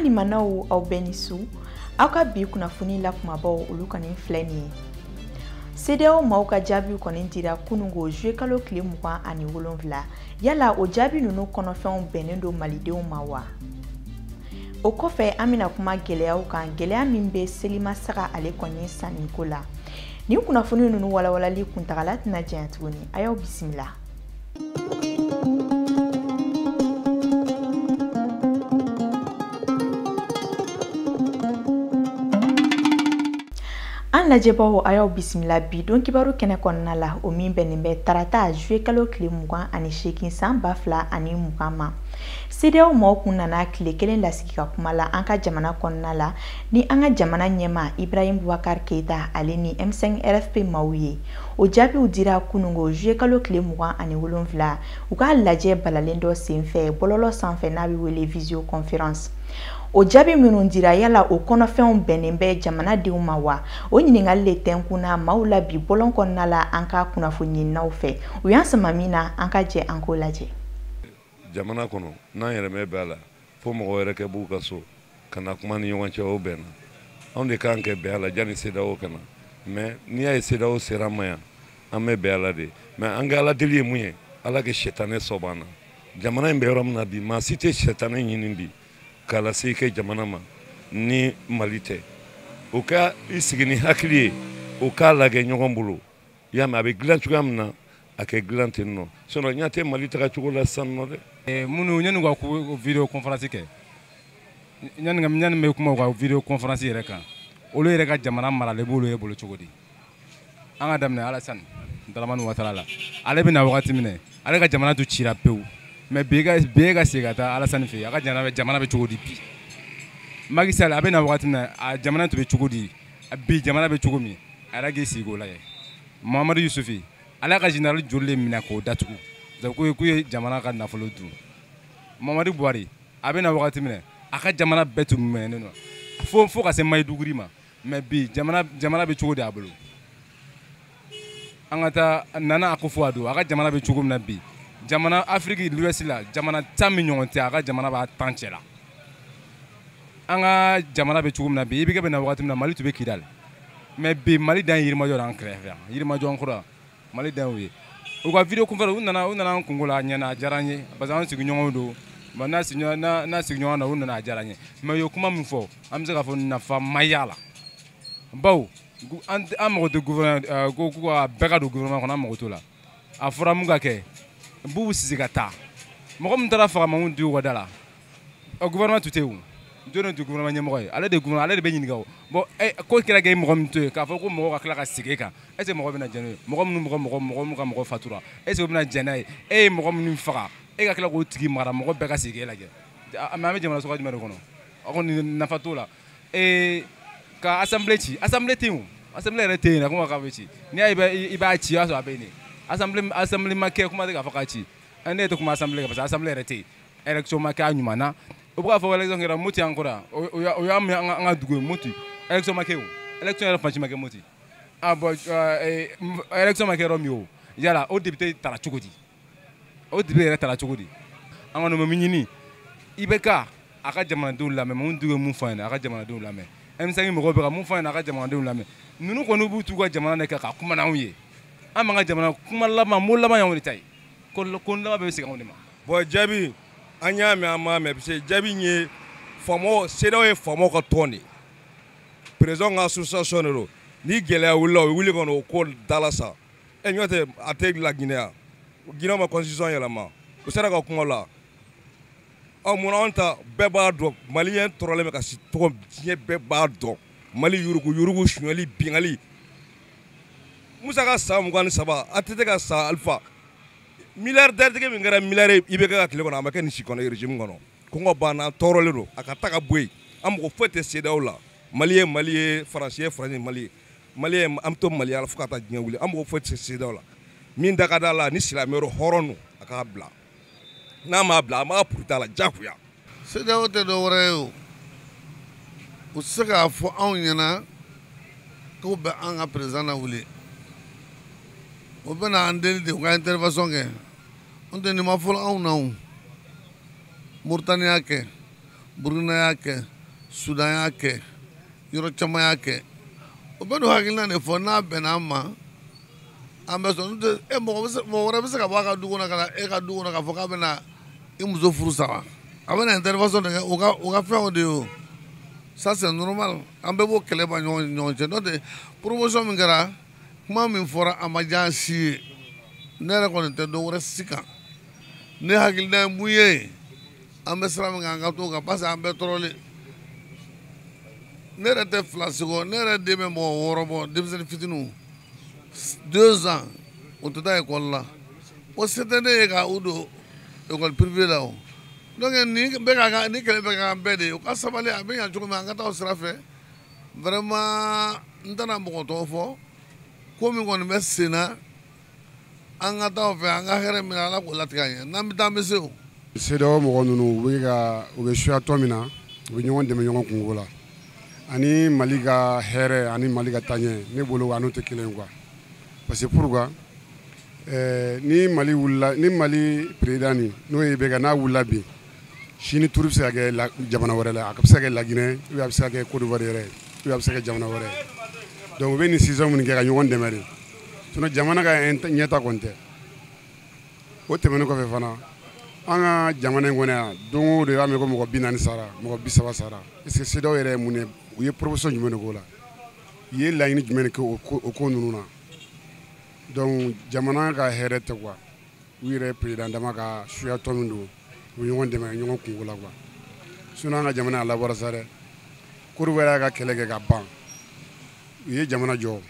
limanaw aw bɛɛ ni su aw ka bi kunnafoni la kumabaw olu kɔni filɛ nin ye CEDEAO maaw ka jaabiw kɔni dira kunungo juillet kalo tile mugan ani wolonfila yala o jaabi ninnu kɔnɔfɛnw bɛnnen don malidenw ma wa o kɔfɛ an bɛna kuma gɛlɛyaw kan gɛlɛya min bɛ seliba saga ale kɔni sanniko la nin kunnafoni ninnu walawalali kuntagala tɛna janya tuguni a y'aw bisimila an lajɛbaaw a y'aw bisimila bi don kibaru kɛnɛ kɔnɔna la o min bɛnnen bɛ tarata juillet kalo tile mugan ani seegin san ba fila ani mugan ma CEDEAO mɔgɔw kun nana tile kelen lasigi ka kuma la an ka jamana kɔnɔna la ni an ka jamana ɲɛmaa Ibrahim Boubacar Keita ale ni M5 RFP maaw ye. O jaabiw dira kunungo juillet kalo tile mugan ani wolonfila u ka lajɛ balalen dɔ senfɛ bɔlɔlɔ sanfɛ n'a bɛ wele visioconférence. O jaabi minnu dira yala o kɔnɔfɛnw bɛnnen bɛ jamana denw ma wa? O ɲininkali le tɛnkunna maaw la bi bɔlɔn kɔnɔna la an ka kunnafoni ɲininaw fɛ. U y'an sama min na an ka jɛ an k'o lajɛ. jamana kɔnɔ n'an yɛrɛ ma bɛn a la fo mɔgɔ wɛrɛ ka b'u ka so ka na kuma ni ɲɔgɔn cɛ o bɛnna anw de kan ka bɛn a la janni CEDEAO ka na mais n'i y'a ye CEDEAO sera an ma yan an bɛ bɛn a la de mais an ka ala deli ye mun ye ala ka sɛtanɛ sɔbɔ an na jamana in bɛ yɔrɔ min na bi maa si tɛ sɛtanɛ ɲini bi k'a lase i ka jamana ma ni mali tɛ o ka i sigi ni hakili ye o k'a lajɛ ɲɔgɔn bolo i y'a mɛn a bɛ dilan cogoya min na a ka dilan ten nɔ sinon ɲa tɛ mali taga cogo la sisan nɔ dɛ eh, minnu yanni ka ko video conférence kɛ yanni yanni bɛ kuma u ka video conférence yɛrɛ kan olu yɛrɛ ka jamana maralen b'olu yɛrɛ bolo cogo di an ka daminɛ Alassane Dramane Ouattara la ale bɛ na wagati min na ale ka jamana tun cira pewu mais bi e ka segin ka taa Alassane fɛ yen a ka jamana bɛ cogo di bi Macky Sall a bɛ na wagati min na a jamana tun bɛ cogo di bi jamana bɛ cogo min a yɛrɛ k'i sigi k'o lajɛ Mahamadou Issoufou ale ka général joli de minɛ k'o datugu k'u k'u ye jamana ka nafolo dun mamadu buhari a bɛ na wagati min na a ka jamana bɛɛ tun minɛnen don fo fo ka se Maiduguri ma mais bi jamana jamana bɛ cogo di a bolo an ka taa nana akufo ado a ka jamana bɛ cogo min na bi jamana afrique de l'ouest la jamana tan min ɲɔgɔn tɛ a ka jamana b'a tan cɛ la an ka jamana bɛ cogo min na bi IBK bɛ na wagati min na mali tun bɛ kidali mais bi mali dan ye yirimajɔ an kɛrɛfɛ yan yirimajɔ an kɔrɔ mali dan y'o ye u ka vidéoconférence u nana u nana an kungo la a ɲɛna a diyara n ye parce que an sigiɲɔgɔnw don ba n'a sigiɲɔgɔn n'a n'a sigiɲɔgɔn na u nana a diyara n ye mais u ye kuma min fɔ an bɛ se k'a fɔ nafa ma y'a la baw an mago tɛ gouvernement euh, ko ko a bɛɛ ka don gouvernement kɔnɔ an mago t'o la a fɔra mun ka kɛ bubu sise ka taa mɔgɔ min taara faga mamudu diko ka da la euh, gouvernement tun tɛ yen jɔni tun gouvernement ɲɛmɔgɔ ye ale de gouvernement ale de bɛ ɲininka o bon eh, ko kɛra k'e mɔgɔ min to yen k'a fɔ ko mɔgɔ ka tila ka segin e kan est ce que mɔgɔ bɛna jɛn n'o ye mɔgɔ minnu mɔgɔ mɔgɔ mɔgɔ minnu ka mɔgɔ fatura est ce que o bɛna jɛn n'a ye e ye mɔgɔ minnu faga e ka tila k'o tigi mara mɔgɔ bɛɛ ka segin e lajɛ mais an bɛ jamana sugu jumɛn de kɔnɔ aw kɔni nafa t'o la ee ka assemblée ci assemblée tɛ yen o assemblée yɛrɛ tɛ yen na kuma k'a bɛ ci n'i y'a ye i b'a ci o y'a sɔrɔ a bɛ yen de assemblée assemblée ma kɛ kuma tɛ k'a fɔ k'a ci ne yɛrɛ tɛ kuma assemblée kan parce que assemblée yɛrɛ tɛ yen élection ma kɛ a ɲuman na u bɛ k'a fɔ élection kɛra moti an kɔrɔ yan o y'a o y'a mɛn an ka dugu ye moti élection ma kɛ o élection yɛrɛ fan si ma kɛ moti ah bon élection ma kɛ yɔrɔ min o yala o député tara cogo di. o député yɛrɛ tara cogo di an kɔni bɛ min ɲini IBK a ka jamanadenw lamɛn mamudu diko ye min fɔ a ɲɛna a ka jamanadenw lamɛn M5 mɔgɔw bɛ ka min fɔ a ɲɛna a ka jamanadenw lamɛn ninnu kɔni b'u t'u ka jamana de kan ka kuma n'anw ye an b'an ka jamana kuma laban mot laban y'anw de ta ye ko ko laban bɛ segin anw de ma. bon jaabi an y'a mɛn an m'a mɛn parce que jaabi in ye faamaw CEDEAO ye faamaw ka tɔn de ye président ka association de don ni gɛlɛya wulila u bɛ wuli ka n'o ko dala sa. ɛ n'o tɛ a tɛ la ginɛ ye ginɛw ma constitution yɛlɛma u sera ka kuma la ɔ munna anw ta bɛɛ b'a dɔn maliyɛn tɔɔrɔlen bɛ ka si tɔgɔ diɲɛ bɛɛ b'a dɔn mali yurugu yurugu sonyali binkanni musa ka san mugan ni saba ATT ka san alifa milliardaire tigi min kɛra miliyari IBK ka tile kɔnɔ a ma kɛ nin si kɔnɔ régime kɔnɔ kɔngɔ bana tɔɔrɔlen don a ka taa ka bɔ yen an mago foyi tɛ CEDEAO la mali ye mali ye faransi ye faransi mali ye mali an to mali la fo ka taa diɲɛ wuli an mago foyi tɛ CEDEAO la min da ka da la ni silamɛ yɛrɛ hɔrɔn don a k'a bila n'a m'a bila an b'a purut'a la jagoya CEDEAO tɛ dɔ wɛrɛ ye o u tɛ se k'a fɔ anw ɲɛna k'u bɛ an ka président nawuli o bɛna an deli de u ka intervention kɛ n'o tɛ nin ma fɔlɔ anw na o moritani y'a kɛ burukina y'a kɛ sudan y'a kɛ yɔrɔ caman y'a kɛ o bɛ n'o hakilina de fɔ n'a bɛnna an ma an bɛ sɔn n'o tɛ e mɔgɔ bɛ se mɔgɔ wɛrɛ bɛ se ka bɔ a ka du kɔnɔ ka na e ka du kɔnɔ k'a fɔ k'a bɛna i muso furu sa wa a bɛna intervention de kɛ o ka o ka fɛnw de ye o ça c'est normal an bɛɛ b'o kɛlɛ ban ɲɔgɔn ni ɲɔgɔn cɛ n'o tɛ promotion min kɛra kuma min fɔra a ma diya an si ye ne yɛrɛ kɔni tɛ dɔ wɛrɛ si kan ne hakilina ye mun ye an bɛ sira min kan an ka t'o kan parce que an bɛɛ tɔɔrɔlen ne yɛrɛ tɛ filasi kɔ ne yɛrɛ den bɛ mɔgɔ wɔɔrɔ bɔ denmisɛnnin fitininw deux ans u tɛ taa ekɔli la o se tɛ ne ye ka u don ekɔli privé la o donc nin bɛ ka k'an nin kɛlɛ bɛ ka k'an bɛɛ de ye u ka sabali a bɛ ɲa cogo min an ka taa o sira fɛ vraiment n tɛna mɔgɔ tɔgɔ fɔ ko min kɔni bɛ sen na an ka taa fɛ an ka hɛrɛ min ala k'o latigɛ an ye n'an bɛ taa an bɛ se o CEDEAO mɔgɔ ninnu u bɛ ka u bɛ suya tɔn min na u bɛ ɲɔgɔn dɛmɛ ɲɔgɔn kunko la ani Mali ka hɛrɛ ani Mali ka taaɲɛ ne bolo a n'o tɛ kelen ye quoi parce que pourquoi ɛɛ ni Mali wulila ni Mali président nin n'o ye IBK n'a wulila bi sini tour bɛ se ka kɛ jamana wɛrɛ la a bɛ se ka kɛ La Guinée ou bien a bɛ se ka kɛ Côte d'Ivoire yɛrɛ ou bien a bɛ se ka kɛ jamana wɛrɛ donc u bɛ nin décision minnu kɛ ka ɲɔgɔn dɛmɛ de sinon jamana ka ɲɛta kɔni tɛ o tɛmɛnen kɔfɛ fana an ka jamana in kɔnɔ yan don o don i b'a mɛn ko mɔgɔ bi naani sara mɔgɔ bi saba sara est ce que CEDEAO yɛrɛ ye mun de u ye proposition jumɛn de k'o la u ye laɲini jumɛn de kɛ o ko o ko ninnu na donc jamana ka hɛrɛ tɛ quoi u yɛrɛ président dama ka suya tɔn min don u bɛ ɲɔgɔn dɛmɛ ɲɔgɔn kunko la quoi sinon an ka jamana a labɔra sa dɛ Kodiwari y'a ka kɛlɛ kɛ ka ban u ye jamana jɔ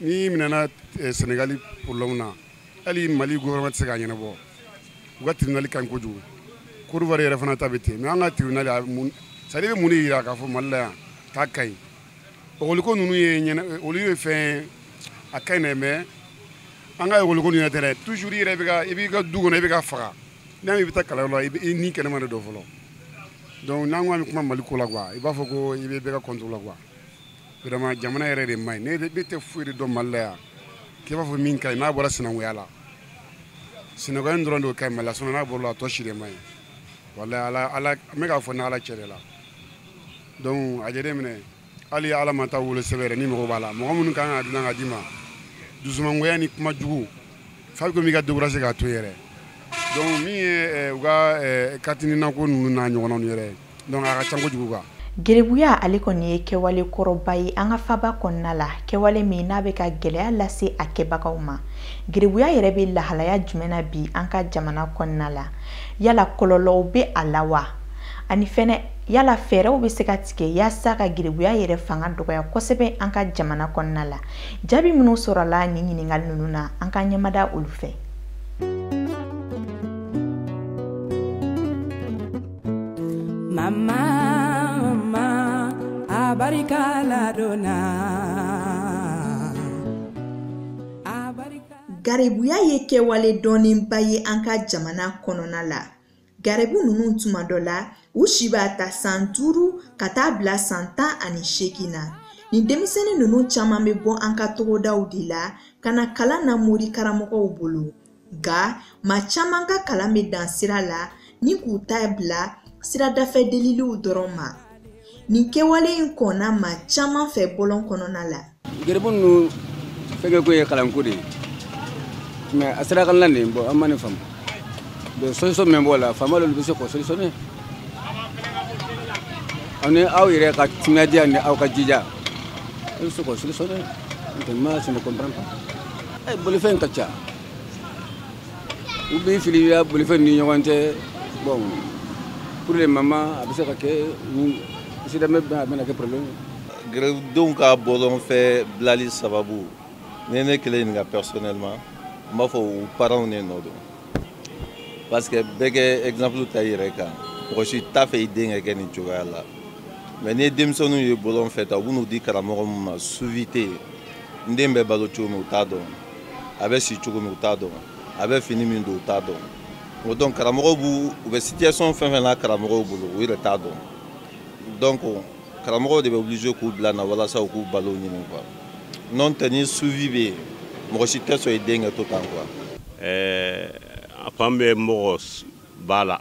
n'i minɛna eh, senegali problème na hali mali gouvernement tɛ se k'a ɲɛnabɔ u ka tribunal ka ɲi kojugu kodiwari yɛrɛ fana ta bɛ ten mais an ka tribunal a mun c'est à dire bɛ mun de yira k'a fɔ mali la yan k'a ka ɲi ekɔliko ninnu ye ɲɛna eh, olu ye fɛn a ka ɲi dɛ mais an ka ekɔliko ninnu yɛrɛ tɛ dɛ toujours i yɛrɛ bɛ ka i b'i ka du kɔnɔ i bɛ ka faga n'a i bɛ taa kalanyɔrɔ la i bɛ- i ni kɛnɛma de don fɔlɔ donc n'an ko an bɛ kuma mali ko la quoi i b'a fɔ ko i bɛ bɛɛ ka contre la quoi vraiment jamana yɛrɛ de man ɲi ne ne tɛ foyi de dɔn mali la yan k'i b'a fɔ min ka ɲi n'a bɔra sinankunya la sinankunya in dɔrɔn de ka ɲi mali la sinon n'a bɔra la a tɔ si de man ɲi walayi ala ala n bɛ k'a fɔ ni ala cɛ de la donc a jateminɛ hali ala ma taa wolosɛbɛn yɛrɛ n'i mako b'a la mɔgɔ minnu kan ka dilan ka d'i ma dusumangoya ni kuma jugu f'a bɛ komi i ka découragé k'a to yɛrɛ donc min ye u ka carte nina ko ninnu n'a ɲɔgɔnnaw yɛrɛ Donc a ka ca kojugu quoi Gerebuya ale kɔni ye kɛwale kɔrɔba ye an ka faba kɔnɔna la, kɛwale min n'a bɛ ka gɛlɛya lase a kɛbagaw ma. Gerebuya yɛrɛ bɛ lahalaya jumɛn na bi an ka jamana kɔnɔna la? Yala kɔlɔlɔw bɛ a la wa? Ani fɛnɛ, yala fɛɛrɛw bɛ se ka tigɛ yaasa ka gerebuya yɛrɛ fanga dɔgɔya kosɛbɛ an ka jamana kɔnɔna la? Jaabi minnu sɔrɔla nin ɲininkali ninnu na, an k'an ɲɛmada olu fɛ. mama mama abarika ladonna garibuya ye kɛwale dɔnnenba ye an ka jamana kɔnɔna la garibu ninnu tuma dɔ la u si b'a ta san duuru ka taa bila san tan ani seegin na nin denmisɛnnin ninnu caman bɛ bɔ an ka togodaw de la ka na kalan na mori karamɔgɔw bolo nka maa caman ka kalan bɛ dan sira la ni k'u ta bila siradafɛ deliliw dɔrɔn ma nin kɛwale in kɔnna maa caman fɛ bɔlɔn kɔnɔna la garibu ninnu fɛnkɛko ye kalanko de ye mais a sira kan la bɔ an ma nin faamu donc solution min b'o la faama olu bɛ se k'o solutionner ani aw yɛrɛ ka timinadiya ni aw ka jija aw bɛ se k'o solutionner ntɛ moi je ne comprends pas a ye bolifɛn ka ca u b'i fili yan bolifɛn ni ɲɔgɔn cɛ bɔn pour le moment a bɛ se ka kɛ accident mais a bɛna kɛ problème gerebudenw ka bɔlɔn fɛ bilali sababu ni ne kelen ɲininka personnellement n b'a fɔ u parents ne nɔ don parce que bɛɛ ka exemple ta i yɛrɛ kan mɔgɔ si t'a fɛ i den ka kɛ nin cogoya la mais n'i ye denmisɛnninw ye bɔlɔn fɛ tan u bɛn'u di karamɔgɔ min ma suivi tɛ n den bɛ balo cogo min u t'a dɔn a bɛ si cogo min u t'a dɔn a bɛ fini min don u t'a dɔn donc karamɔgɔw b'u u bɛ situation fɛn fɛn na karamɔgɔw bolo u yɛrɛ t'a dɔn donc karamɔgɔw de bɛ obligé k'u bila na walasa u k'u balo ɲini quoi n'o tɛ ni suivi bɛ yen mɔgɔ si tɛ sɔn i den ka to tan quoi. ɛɛ a fan bɛ mɔgɔba la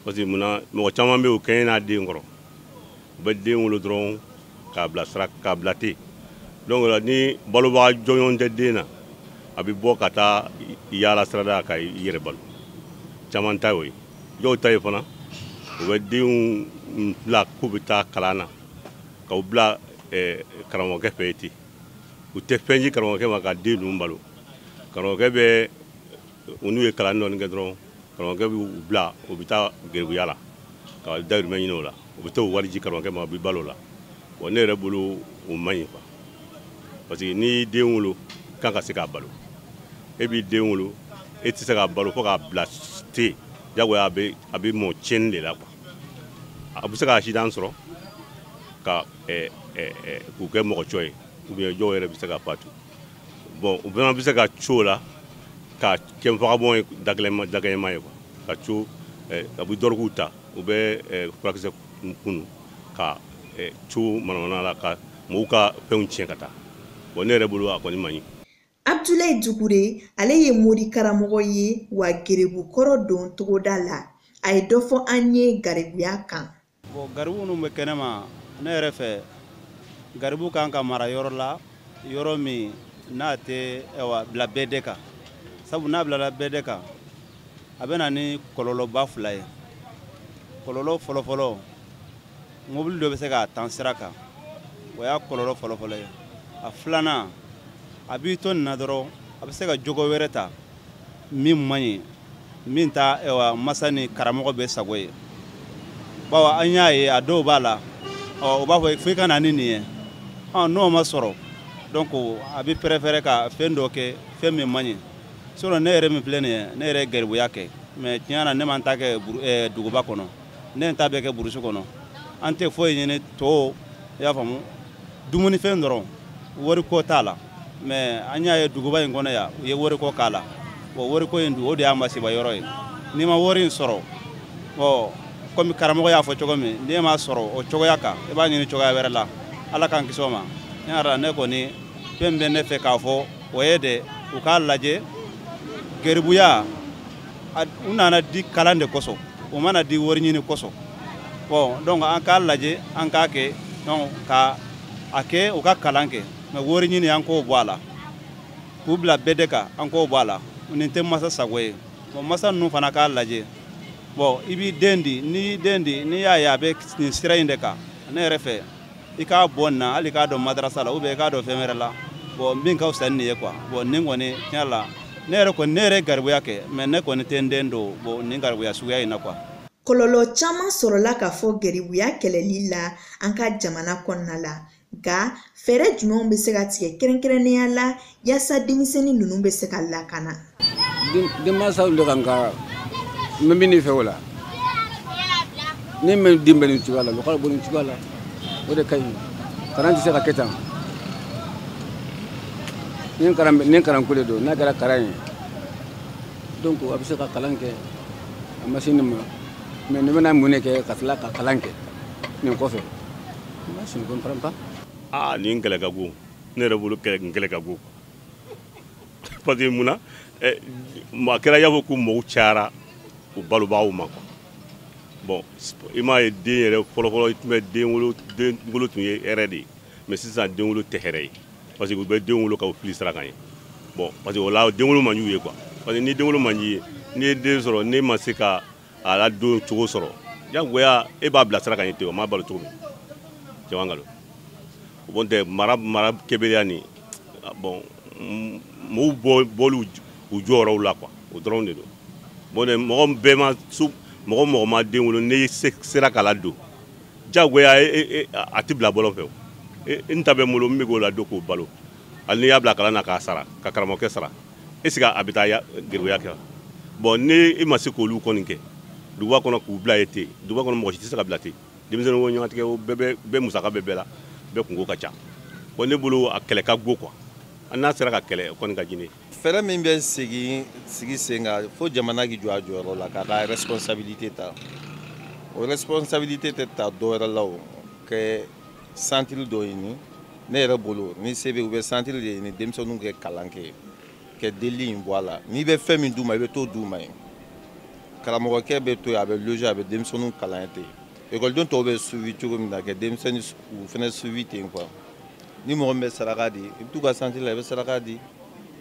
parce que munna mɔgɔ caman bɛ yen u kɛɲɛna den kɔrɔ u bɛ den wolo dɔrɔn k'a bila sira k'a bila ten donc là ni balobaga jɔnjɔn tɛ den na a bɛ bɔ ka taa yaala sirada ka i yɛrɛ balo caman ta y'o ye dɔw ta ye fana u bɛ denw bila k'u bɛ taa kalan na k'u bila eh, karamɔgɔkɛ fɛ yen ten u tɛ fɛn di karamɔgɔkɛ ma ka den ninnu balo karamɔgɔkɛ bɛ u n'u ye kalan dɔɔni kɛ dɔrɔn karamɔgɔkɛ b'u bila u bɛ taa garibuya la ka dayirimɛ ɲini o la u bɛ taa o wari di karamɔgɔkɛ ma u bɛ balo o la bon ne yɛrɛ bolo o man ɲi quoi parce que n'i den wolo kan ka se k'a balo e b'i den wolo e tɛ se k'a balo fo k'a bila ten jagoya a bɛ a bɛ mɔ tiɲɛni de la quoi a bɛ se ka accident sɔrɔ ka k'u kɛ mɔgɔ cɔ ye ou bien dɔw yɛrɛ bɛ se ka fatu bon u fana bɛ se ka co la ka kɛ vagabond ye dagɛlɛma ye ka co eh, a bɛ dɔrɔguw ta u bɛ eh, furakisɛ kunu ka eh, co manamana la ka mɔgɔw ka fɛnw tiɲɛ ka taa bon ne yɛrɛ bolo a kɔni man ɲi abdulayi dukure ale ye mori karamɔgɔ ye wa garibukɔrɔ don togoda la a ye dɔ fɔ an ye garibuya kan Bon garibu minnu bɛ kɛnɛma ne yɛrɛ fɛ garibu kan ka mara yɔrɔ la yɔrɔ min n'a tɛ awa bila bɛda kan sabu n'a bilala bɛda kan a bɛ na ni kɔlɔlɔba fila ye kɔlɔlɔ fɔlɔfɔlɔ mobili dɔ bɛ se k'a tan sira kan o y'a kɔlɔlɔ fɔlɔfɔlɔ ye a filanan a b'i to nin na dɔrɔn a bɛ se ka jogo wɛrɛ ta min man ɲi min tɛ ɛwa masa ni karamɔgɔ bɛɛ sago ye bawo an y'a ye a dɔw b'a la ɔ o b'a fɔ fo i ka na ni nin ye ɔ n'o ma sɔrɔ donc a bɛ préférer ka fɛn dɔ kɛ fɛn min man ɲi sinon ne yɛrɛ min filɛ nin ye ne yɛrɛ ye garibuya kɛ mais tiɲɛ na ne ma n ta kɛ eh, duguba kɔnɔ ne ye n ta bɛɛ kɛ burusi kɔnɔ an tɛ foyi ɲini to i y'a faamu dumunifɛn dɔrɔn wariko t'a la mais an y'a ye duguba in kɔnɔ yan u ye wariko k'a la bon wariko in dun o de y'a masiba yɔrɔ ye n'i ma wari in sɔrɔ ɔ kɔmi karamɔgɔ y'a fɔ cogo min n'e m'a sɔrɔ o cogoya kan i b'a ɲini cogoya wɛrɛ la ala k'an kisi o ma ne yɛrɛ ne kɔni fɛn bɛ ne fɛ k'a fɔ o ye de u k'a lajɛ garibuya u nana di kalan de kosɔn u ma na di wari ɲini kosɔn bon donc an k'a lajɛ an k'a kɛ donc ka a kɛ u ka kalan kɛ mais wari ɲini an k'o bɔ a la k'u bila bɛda kan an k'o bɔ a la nin tɛ masa sago ye bon masa ninnu fana k'a lajɛ bon i b'i den di n'i y'i den di n'i y'a ye a bɛ nin sira in de kan ne yɛrɛ fɛ i k'a bɔ nin na hali k'a don madarasa la ou bien i k'a don fɛn wɛrɛ la bon min ka fisa ni nin ye quoi bon nin kɔni tiɲɛ la ne yɛrɛ kɔni ne yɛrɛ garibuya kɛ mais ne kɔni tɛ n den don bon nin garibuya suguya in na quoi kɔlɔlɔ caman sɔrɔla k'a fɔ garibuya kɛlɛli la an ka jamana kɔnɔna la nka fɛɛrɛ jumɛnw bɛ se ka tigɛ kɛrɛnkɛrɛnnenya la yaasa denmisɛnnin ninnu bɛ se ka lakana denmansaw de kan ka n bɛ min de fɛ o la ni min den bɛ nin cogoya la olu k'olu bɔ nin cogoya la o de ka ɲi kalan tɛ se ka kɛ tan ni kalanko de don n'a kɛra kalan ye donc a bɛ se ka kalan kɛ a ma se nin ma mais ne bɛna mun de kɛ ka tila ka kalan kɛ nin kɔfɛ moi je ne comprends pas aa nin kɛlɛ ka go ne yɛrɛ bolo kɛlɛ ka go parce que mun na eh, a kɛra y'a fɔ ko mɔgɔw cayara u balobaaw ma quoi bon i m'a ye den yɛrɛ fɔlɔfɔlɔ i tun bɛ den wolo den wolo tun ye hɛrɛ de ye mais sisan den wolo tɛ hɛrɛ ye parce que u bɛ den wolo ka u fili sira kan yen bon parce que o la den wolo man di u ye quoi parce que ni den wolo man d'i ye n'i ye den sɔrɔ n'e ma se ka a ladon cogo sɔrɔ jagoya e b'a bila sira kan yen ten o m'a balo cogo min cɛman nkalon o bon tɛ mara kɛbaliya ni bon mɔgɔw bɔli u jɔyɔrɔw la quoi o dɔrɔn de don bon n tɛ mɔgɔ bɛɛ ma mɔgɔ mɔgɔ ma den wolo n'i sera k'a ladon jagoya a tɛ bila bɔlɔn fɛ o n ta bɛ n bolo n bɛ k'o ladon k'o balo hali n'i y'a bila kalan na k'a sara ka karamɔgɔkɛ sara est-ce que a bɛ taa garibuya kɛ bon ni e ma se k'olu kɔni kɛ duguba kɔnɔ k'u bila yen ten duguba kɔnɔ mɔgɔ si tɛ se ka bila ten denmisɛnnin ko ɲɔgɔntigɛ o bɛɛ musaka bɛ bɛɛ la bɛɛ kunko ka ca bon ne bolo a kɛlɛ ka go quoi an n'a sera ka kɛlɛ o kɔni ka di ne ye fɛɛrɛ min bɛ sigi sen kan fo jamana k'i jɔ a jɔyɔrɔ la k'a ka responsabilité ta o responsabilité tɛ ta dɔwɛrɛ la o kɛ santiri dɔ ɲini ne yɛrɛ bolo ni se bɛ u bɛ santiri de ɲini denmisɛnninw ka kalan kɛ ka delili in bɔ a la n'i bɛ fɛn min d'u ma i bɛ t'o d'u ma yen karamɔgɔkɛ bɛ to yen a bɛ loger a bɛ denmisɛnninw kalan ten ekɔliden tɔw bɛ suivi cogo min na ka denmisɛnninw fana suivi ten quoi ni mɔgɔ min bɛ saraka di i bɛ t'u ka santiri la i bɛ saraka di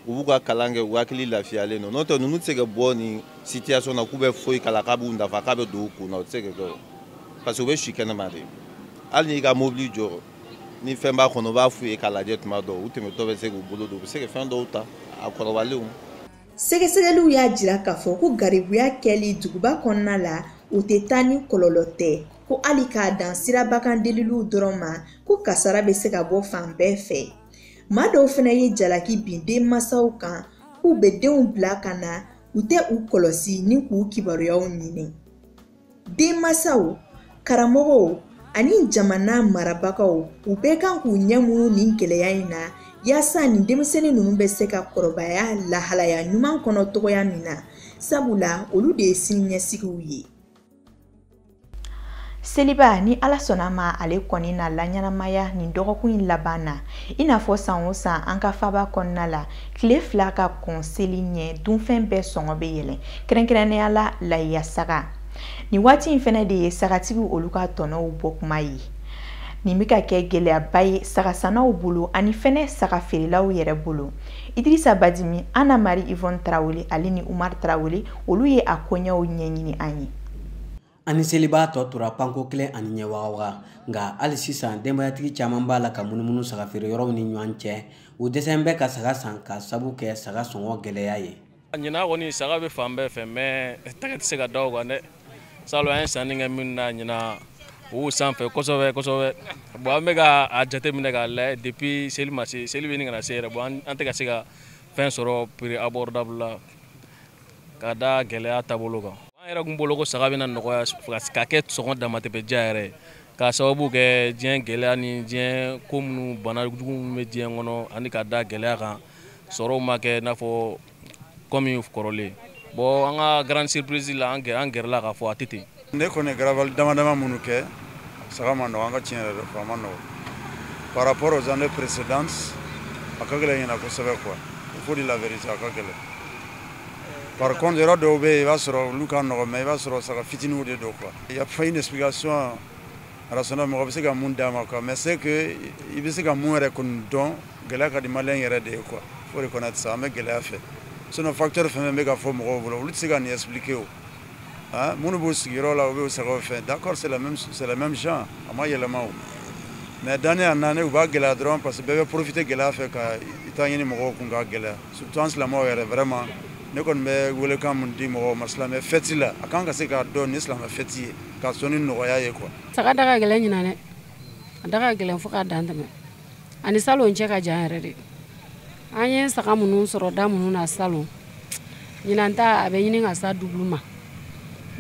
u b'u ka kalan kɛ u hakili lafiyalen don n'o tɛ ninnu tɛ se ka bɔ nin situation na k'u bɛ foyi kalan k'a b'u nafa k'a bɛ don u kun na o tɛ se ka kɛ o parce que u bɛ si kɛnɛma de hali n'i ka mobili jɔ ni fɛn b'a kɔnɔ u b'a f'u ye k'a lajɛ tuma dɔw u tɛmɛtɔ bɛ se k'u bolo don u bɛ se ka fɛn dɔw ta a kɔrɔbalenw sɛgɛsɛgɛliw y'a jira k'a fɔ ko garibuya kɛli duguba kɔnɔna la o tɛ taa ni kɔlɔlɔ tɛ ko hali k'a dan siraba kan deliliw dɔrɔn ma ko kasara bɛ se ka bɔ fan bɛɛ fɛ maa dɔw fana ye jalaki bin denmansaw kan k'u bɛ denw bila ka na u tɛ u kɔlɔsi ni k'u kibaruyaw ɲini denmasaw karamɔgɔw ani jamana marabagaw u bɛɛ kan k'u ɲɛ munu nin gɛlɛya in na yaasa nin denmisɛnnin ninnu bɛ se ka kɔrɔbaya lahalaya ɲuman kɔnɔ tɔgɔya min na sabula olu de ye siniɲɛsigiw ye seliba ni ala sɔnna ma ale kɔni na laɲɛnamaya nin dɔgɔkun in laban na i n'a fɔ san o san an ka faba kɔnɔna la tile fila ka kɔn seli ɲɛ dunfɛn bɛɛ sɔngɔ bɛ yɛlɛn kɛrɛnkɛrɛnnenya la layiya saga nin waati in fana de ye sagatigiw olu ka tɔnɔw bɔ kuma ye nin bɛ ka kɛ gɛlɛyaba ye sagasannaw bolo ani fɛnɛ saga feerelaw yɛrɛ bolo idirisa badimi ana mari ivɔn tarawele ale ni umar tarawele olu ye a koɲɛw ɲɛɲini an ye An ni seliba tɔ tora panko kelen ani ɲɛ wagawaga nka hali sisan denbayatigi caman b'a la ka munumunu saga feere yɔrɔw ni ɲɔgɔn cɛ u dɛsɛn bɛ ka saga san k'a sabu kɛ saga sɔngɔ gɛlɛya ye ɲinan kɔni saga bɛ fan bɛɛ fɛ mais tɛgɛ tɛ se ka da o kan dɛ salon an ye sanni kɛ minnu na ɲinan u sanfɛ kosɛbɛ kosɛbɛ bon an bɛ ka a jate minɛ k'a layɛ depuis seli ma se seli bɛ ɲini ka na se yɛrɛ bon an tɛ ka se ka fɛn sɔrɔ prix abordable la ka da gɛlɛya taabolo kan an yɛrɛkun bolo ko saga bɛna nɔgɔya ka kɛ sɔngɔ damatɛmɛ diya yɛrɛ ye k'a sababu kɛ diɲɛ gɛlɛya ni diɲɛ ko minnu bana jugu minnu bɛ diɲɛ kɔnɔ ani ka da gɛlɛya kan sɔrɔw ma kɛ i n'a fɔ kɔmi kɔrɔlen bɔn an ka grande surprise la an gɛrɛla k'a fɔ a tɛ ten ne kɔni garabali dama dama minnu kɛ saga ma nɔgɔ an ka tiɲɛ yɛrɛ de fɔ a ma nɔgɔ par rapport aux années précédentes a ka gɛlɛn ɲinan kosɛbɛ quoi il faut dire la vérité a ka gɛlɛn par contre yɔrɔ dɔw bɛ yen i b'a sɔrɔ olu ka nɔgɔ mais i b'a sɔrɔ saga fitiniw de don quoi il y a pas une explication rationnelle mɔgɔ bɛ se ka mun d'a ma quoi mais c'est que i bɛ se ka mun yɛrɛ kɔni dɔn gɛlɛya ka di maliyɛn yɛrɛ de ye quoi faut reconnaître ça an bɛ gɛlɛya fɛ sinon facteur fɛn fɛn bɛ ka fɔ mɔgɔw bolo olu tɛ se ka nin expliquer o ah, minnu b'u sigiyɔrɔ la u bɛ sagaw fɛ d'accord c'est la même genre a ma yɛlɛma o mais d'année en année u b'a gɛlɛya dɔrɔn parce que bɛɛ bɛ profiter gɛlɛya fɛ ka i ta ɲini mɔgɔw kun k'a gɛlɛya surtout an silamɛw yɛrɛ vraiment ne kɔni bɛ welekan min di mɔgɔw ma silamɛ fɛti la a kan ka se k'a dɔn ni silamɛ fɛti ye k'a sɔn ni nɔgɔya ye quoi. saga da ka gɛlɛn ɲinan dɛ a da ka gɛlɛn fo k'a dan tɛmɛ a ni salon cɛ ka jan yɛrɛ de. an ye saga minnu sɔrɔ da minnu na salon ɲinan ta a bɛ ɲini ka s'a dubulu ma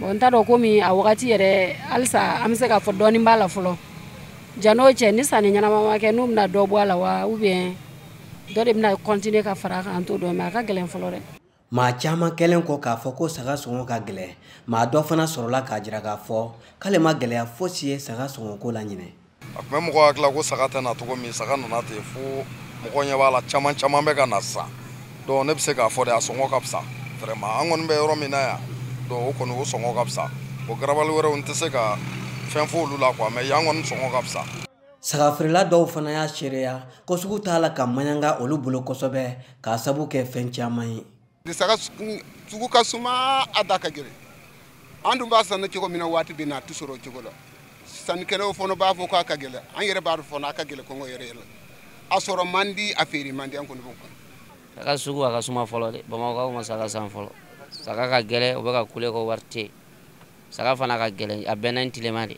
bɔn n t'a dɔn komi a wagati yɛrɛ halisa an bɛ se k'a fɔ dɔɔnin b'a la fɔlɔ jan'o cɛ ni sanni ɲɛnama ma kɛ n'u bɛna dɔ bɔ a la wa ubiyɛn dɔ de bɛna kɔntine ka fara a kan an t'o dɔn mɛ a ka gɛlɛn fɔlɔ dɛ maa caman kɛlen kɔ k'a fɔ ko saga sɔngɔ ka gɛlɛn maa dɔ fana sɔrɔla k'a jira k'a fɔ k'ale ma gɛlɛya fosi ye saga sɔngɔko la ɲinɛ a tun bɛ mɔgɔ hakila ko saga tɛ na cogo min saga nana ten fo mɔgɔ ɲɛ b'a la caman caman bɛ ka na sisan donc ne bɛ se k'a fɔ de a sɔngɔ ka fisa vraiment an kɔni bɛ yɔrɔ min na yan donc o kɔni o sɔngɔ ka fisa o garabali wɛrɛw n tɛ se ka fɛn fɔ olu la quoi mais yan kɔni sɔngɔ ka fisa sagafeerela dɔw fana y'a seereya ko sugu t'a la ka maɲanga olu bolo kosɛbɛ k'a sabu kɛ fɛn caman ye saga sugu ka suma a da ka gɛlɛn an dun b'a sanni cogo min na waati bɛɛ na a tɛ sɔrɔ o cogo la sannikɛlaw fana b'a fɔ k'a ka gɛlɛn an yɛrɛ b'a dɔn fana a ka gɛlɛn kungo yɛrɛ yɛrɛ a sɔrɔ man di a feere man di an kɔni b'o kan saga sugu a ka suma fɔlɔ dɛ bamakɔkaw ma saga san fɔlɔ saga ka gɛlɛn o bɛ ka kule ko wari tɛ yen saga fana ka gɛlɛn a bɛnna ni tilema de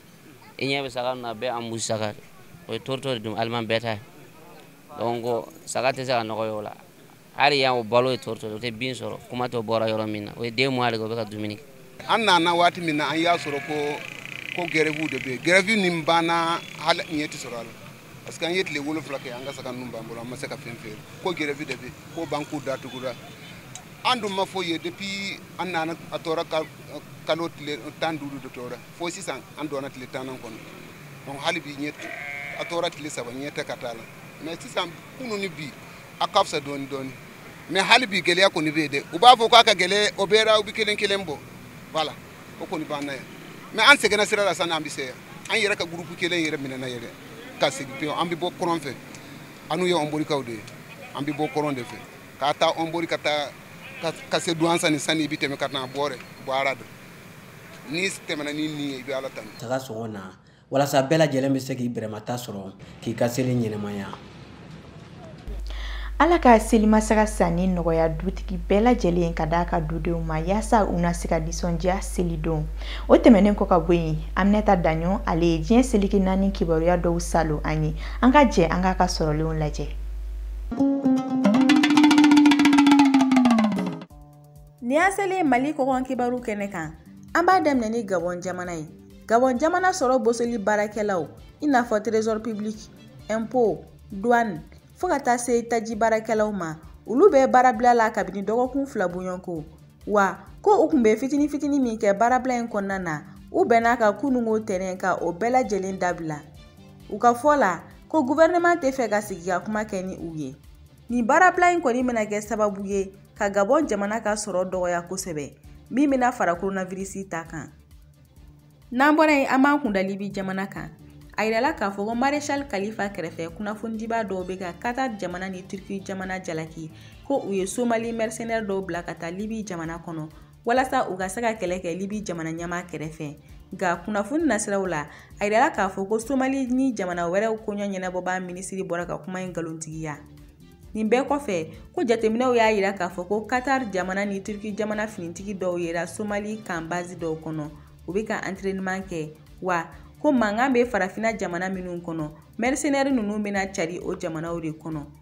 i ɲɛ bɛ saga na a bɛɛ embouche saga de o ye tourteau de dun aliment bétail donc saga tɛ se ka nɔgɔy'o la hali yan o balo ye tourteau de o tɛ bin sɔrɔ kuma t'o bɔra yɔrɔ min na o ye deux mois de kɛ o bɛ ka dumuni kɛ an nana waati min na an y'a sɔrɔ ko grève de bɛ yen grève nin banna hali ɲɛ tɛ sɔrɔ a la parce que an ye tile wolonfila kɛ an ka saga ninnu b'an bolo an ma se ka fɛn feere ko grève de bɛ ko banque datugura an dun ma foyi ye depuis an nana a tora kalo tile tan duuru de tora fo sisan an donna tile tannan kɔnɔ donc hali bi ɲɛ a tora tile saba ɲɛ tɛ ka taa a la mais sisan kunu ni bi a ka fisa dɔɔni dɔɔni mais hali bi gɛlɛya kɔni bɛ yen dɛ u b'a fɔ k'a ka gɛlɛn o bɛɛ la u bɛ kelen kelen bɔ voilà o kɔni b'an na yan mais an sɛgɛnna sira la sani an bɛ se yan an yɛrɛ ka gurupu kelen yɛrɛ minɛna yɛrɛ ka segin pewu an bɛ bɔ kɔrɔn fɛ annu ye ɔnborikaw de ye an bɛ bɔ kɔrɔn de fɛ k'a ta ɔnbori ka taa ka se duwansa ni sani i bɛ tɛmɛ ka taa bɔrɛ baara don n'i tɛmɛna ni nin ye i bɛ ala tanu saga sɔngɔ na walasa bɛɛ lajɛlen bɛ se k'i bɛrɛmata sɔrɔ k'i ka seli ɲɛnɛmaya ala ka selimasaga sanni nɔgɔya dutigi bɛɛ lajɛlen ka d'a ka dudenw ma yaasa u na se ka nisɔndiya selidon o tɛmɛnen kɔ ka bɔ yen aminata daɲɔ ale ye diɲɛ seleke naani kibaruya dɔw salon a ye an ka jɛ an k'a ka sɔrɔlenw lajɛ Nin y'an selen Mali kɔkan kibaru kɛnɛ kan, an b'a daminɛ ni Gabɔn jamana ye. Gabɔn jamana sɔrɔ bosoli baarakɛlaw i n'a fɔ trésor public, impôt, douane fo ka taa se taji baarakɛlaw ma, olu bɛ baarabila la kabini dɔgɔkun fila bɔɲɔgɔnko. Wa ko u tun bɛ fitini fitini min kɛ baarabila in kɔnɔna na, u bɛnn'a kan kununko tɛnɛn ka o bɛɛ lajɛlen dabila. U ka fɔ la, ko gouvernement tɛ fɛ ka sigikakuma kɛ ni u ye. nin baarabila in kɔni bɛna kɛ sababu ye ka gabɔn jamana ka sɔrɔ dɔgɔya kosɛbɛ min bɛna fara koronavirisi ta kan n'an bɔra yen an b'an kun da libi jamana kan a yirala k'a fɔ ko marechal kalifa kɛrɛfɛ kunnafonidibaa dɔw bɛ ka qatar jamana ni turki jamana jalaki ko u ye somali mercenaire dɔw bila ka taa libi jamana kɔnɔ walasa u ka se ka kɛlɛ kɛ libi jamana ɲɛmaa kɛrɛfɛ nka kunnafoni nasiraw la a yirala k'a fɔ ko somali ni jamana wɛrɛw koɲɔ ɲɛnabɔbaa minisiri bɔra ka kuma in nkalontigiya nin bɛɛ kɔfɛ ko jateminɛw y'a yira k'a fɔ ko katar jamana ni turki jamana finitigi dɔw yera somali kan bazi dɔw kɔnɔ u bɛ ka antreniman kɛ wa ko mankan bɛ farafina jamana minnu kɔnɔ mɛrisenɛri ninnu bɛna cari o jamanaw de kɔnɔ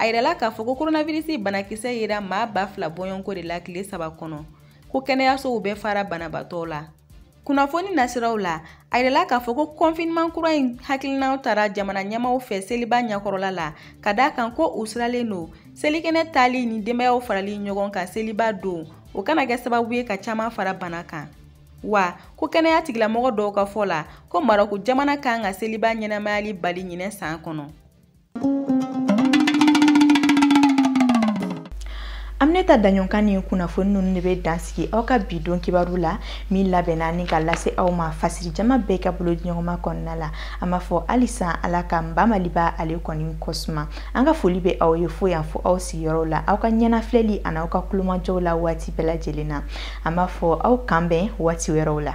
a yirala k'a fɔ ko koronavirisi banakisɛ yera maa ba fila bɔɲɔgɔnko de la tile saba kɔnɔ ko kɛnɛyasow bɛɛ fara banabaatɔ la kunnafoni nasiraw la a yirala k'a fɔ ko kɔnfiniman kura in hakilinaw tara jamana ɲɛmaaw fɛ seliba ɲɛkɔrɔla la ka d'a kan ko u siralen don selikɛnɛ taali ni denbayaw farali ɲɔgɔn kan seliba don o kana kɛ sababu ye ka caman fara bana kan wa ko kɛnɛya tigilamɔgɔ dɔw ka fɔ la ko marɔku jamana kan ka seliba ɲɛnamayali bali ɲinɛ san kɔnɔ aminata daɲɔn ka nin kunnafoni ninnu de bɛ dansigi aw ka bi don kibaru la min labɛnna ni ka lase aw ma fasiri jama bɛɛ ka bolodiɲɔgɔnma kɔnɔna la an b'a fɔ halisa ala ka n ba maliba ale kɔni kosuma an ka foli bɛ aw ye fo yan fo aw sigiyɔrɔw la aw ka ɲɛnafilɛli ani aw ka kulomajɔw la waati bɛɛ lajɛlen na an b'a fɔ aw k'an bɛn waati wɛrɛw la